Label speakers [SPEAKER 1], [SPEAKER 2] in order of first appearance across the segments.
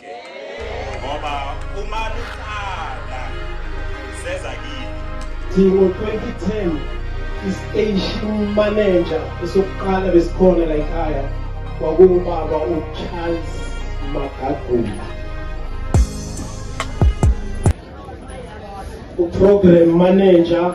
[SPEAKER 1] ngoba uma luqala seza kini Dingo
[SPEAKER 2] 2010 istation manager esokuqala besikhona la ekhaya kwakungubaba uCharles Magagula uprogram manager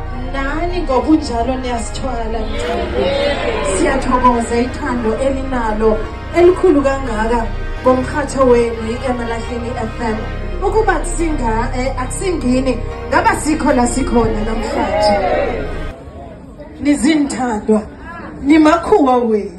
[SPEAKER 3] nani ngokunjalo niyasithwala siyathokoza ithando elinalo elikhulu kangaka ngomkhatho wenu i-emalahleni fm ukuba eh, akusingini ngaba sikho la sikhona namhlanje nizinthandwa nimakhuwa wenu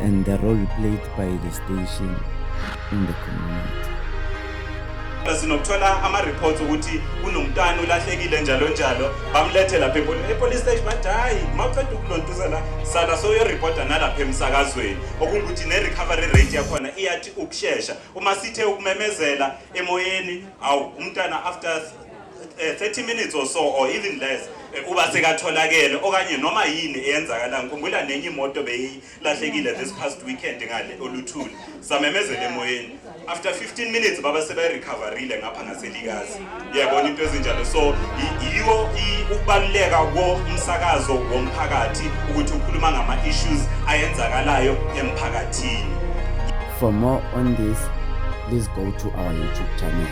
[SPEAKER 4] and the role
[SPEAKER 5] played by the station in the community. sinokuthola
[SPEAKER 1] ama-reports ukuthi kunomntwana ulahlekile njalo njalo bamlethe lapha epolice station bathi hhayi uma uceda ukulontuza la sala soyoripota nalapha emsakazweni okungukuthi ne-recovery rate yakhona iyathi ukushesha uma sithe ukumemezela emoyeni awu umntwana after 30 eh, minutes or so or even less eh, uba sekatholakele okanye noma yini eyenzakala ngikhumbula nenye imoto beyilahlekile this past weekend ngale oluthuli samemezela emoyeni after 15 minutes baba seberecoverile ngapha ngaselikazi yabona into ezinjalo so yiwo ukubaluleka komsakazo womphakathi ukuthi ukhuluma ngama-issues ayenzakalayo emphakathini for
[SPEAKER 5] more on this please go to our youtube channel